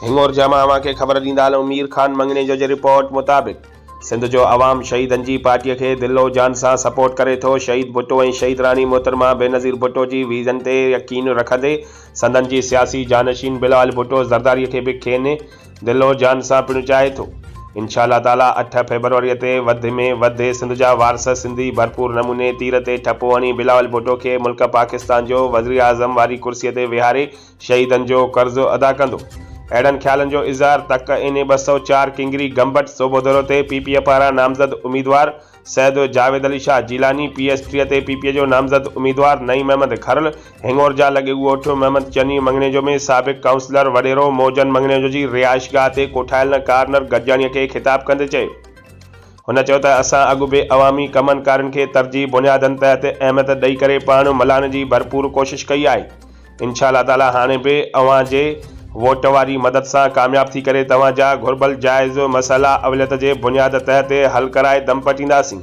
هينگور جا مان اوهان کي خبر ڏيندا هلون مير خان منڱڻيجو جي رپورٽ مطابق سنڌ جو عوام شهيدن جي پارٽي کي دل و جان سان سپورٽ ڪري ٿو شهيد ڀٽو ۽ شهيد راڻي محترمه بينظير ڀٽو جي ويزن تي يقين رکندي سندن جي سياسي جانشين بلال ڀٽو زرداري کي به کين دل و جان سان پڻ چاهي ٿو انشاء الله تعالي اٺ فيبروري تي وڌ ۾ وڌ سنڌ جا وارث سنڌي ڀرپور نموني تير تي ٺپو هڻي بلاول ڀٽو کي ملڪ پاڪستان جو وزيراعظم واري ڪرسي تي ويهاري شهيدن جو قرض ادا ڪندو. اهڙن خيالن جو اظهار تڪ اين اي ٻه سؤ چار ڪنگري گمبٽ صوبو دورو تي پي پي اي پاران نامزد اميدوار سيد جاويد علي شاهه جيلاني، پي ايس ٽيهه تي پي پي اي جو نامزد اميدوار نعيم احمد کرل، هڱورجا لڳي ڳوٺ محمد چني مڱڻيجو ۾ سابق ڪائونسلر وڏيرو موجن مڱڻيجو جي رهائشگاهه تي ڪوٺايل نه ڪارنر گڏجاڻيء کي خطاب ڪندي چيو. هن چيو ته اسان اڳ به عوامي ڪمن ڪارين کي ترجيح بنيادن تحت اهميت ڏئي ڪري پاڻ ملهائڻ جي ڀرپور ڪوشش ڪئي آهي. انشاء الله تعاليٰ هاڻي به اوهان جي ووٽ واري مدد سان ڪامياب ٿي ڪري توهان جا گهربل جائز مسئلا اوليت جي بنياد تهه تي حل ڪرائي دم پٽينداسين.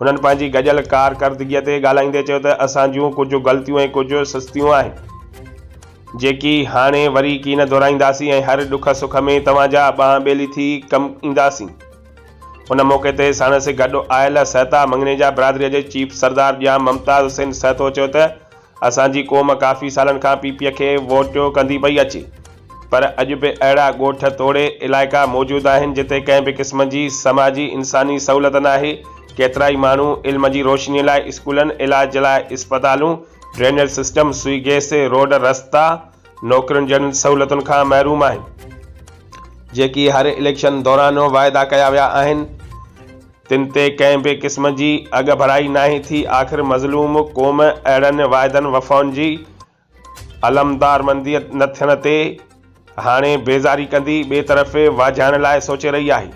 هنن پنهنجي گڏيل ڪارڪردگي تي ڳالهائيندي چيو ته اسان جون ڪجهه غلطيون ۽ ڪجهه سستيون آهن جيڪي هاڻي وري ڪين دهرائينداسين ۽ هر ڏک سک ۾ توهان جا ٻانهن ٻيلي ٿي ڪم اينداسين. ان موقعي تي ساڻس گڏ آيل سهتا مڱنيجا برادري جي چيف سردار ڄام ممتاز حسين سهتو چيو ته اسان جي قوم ڪافي سالن کان پي پي کي ووٽيو ڪندي پئي اچي پر اڄ به اهڙا ڳوٺ توڙي علائقا موجود آهن جتي ڪنهن به قسم جي سماجي انساني سهولت ناهي ڪيترائي ماڻهو علم جي روشني لاء اسڪولن علاج لاء اسپتالون drainage system Sui gas road رستا نوڪرين جهڙين سهولتن کان محروم آهن جيڪي هر اليڪشن دوران وعدا ڪيا ويا آهن. تن تي ڪنهن به قسم جي اڳڀرائي ناهي ٿي، آخر مظلوم قوم اهڙن واعدن وفائن جي علمدارمنديء نه ٿيڻ تي هاڻي بيزاري ڪندي ٻئي طرف واجهائڻ لاء سوچي رهي آهي.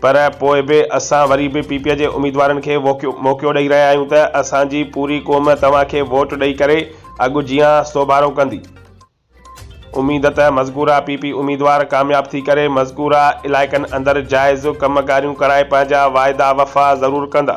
پر پوء به اسان وري به پي پي جي اميدوارن کي موقعو ڏئي رهيا آهيون ته اسان جي پوري قوم توهان کي ووٽ ڏئي ڪري اڳ جيان سوڀارو ڪندي. اميد ته مذڪوره پي پي اميدوار ڪامياب ٿي ڪري مذڪوره علائقن اندر جائز ڪم ڪاريون ڪرائي پنهنجا واعدا وفا ضرور ڪندا.